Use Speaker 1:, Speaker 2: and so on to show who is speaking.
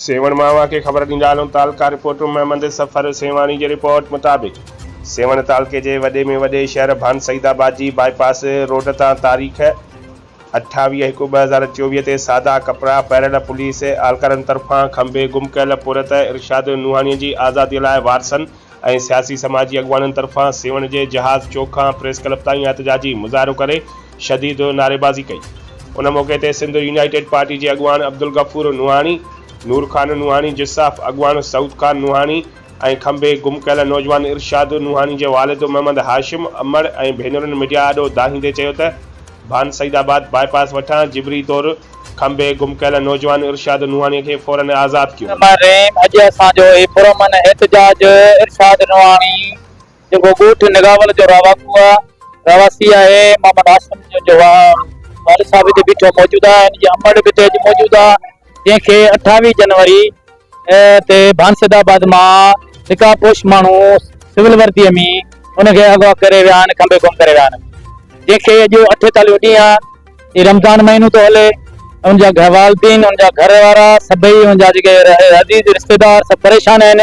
Speaker 1: سيوهڻ مان اوهان کي خبر ڏيندا هلون تعلقه رپورٽ محمد سفر سيوهاڻي جي رپورٽ مطابق سيوهڻ تعلقي جي وڏي ۾ وڏي شهر ڀان سعيد آباد جي باء پاس روڊ تان تاريخ اٺاويهه هڪ ٻه هزار چوويهه تي سادا ڪپڙا پهريل پوليس اهلڪارن طرفان کنڀي گم ڪيل پورهيت ارشاد نوحاڻي جي آزادي لاء وارثن ۽ سياسي سماجي اڳواڻن طرفان سيوهڻ جي جهاز چوڪ کان پريس ڪلب تائين احتجاجي مظاهرو ڪري شديد نعريبازي ڪئي ان موقعي تي سنڌ يونائيٽيڊ پارٽي جي اڳواڻ عبدالغفور نوحاڻي، نور خان نوحاڻي، جساف اڳواڻ سعود خان نوحاڻي ۽ کنڀي گم ڪيل نوجوان ارشاد نوحاڻي جي والد محمد هاشم امڙ ۽ ڀينرن ميڊيا آڏو دانهيندي چيو ته ڀان سعيد آباد باء پاس وٺان جبري طور کنڀي گم ڪيل نوجوان ارشاد نوحاڻي کي فورن آزاد ڪيو. سمر رحيم اڄ اسان
Speaker 2: جو هي پرامن احتجاج ارشاد نوحاڻي جيڪو ڳوٺ نگاول جو رهواڪو رهواسي آهي محمد هاشم جو والد صاحب هتي بيٺو موجود آهي ان جي امڙ به هتي اڄ موجود آهي جنهن کي اٺاويهه جنوري تي ڀانسد آباد مان نقاب پوش ماڻهو سول وردي ۾ ان کي اغوا ڪري ويا آهن کنڀي گم ڪري ويا آهن جنهن کي اڄ اٺيتاليهون ڏينهن هي رمضان مهينو ٿو هلي ان جا والدين ان جا گهر وارا سڀئي ان جا جيڪي عزيز رشتيدار سڀ پريشان آهن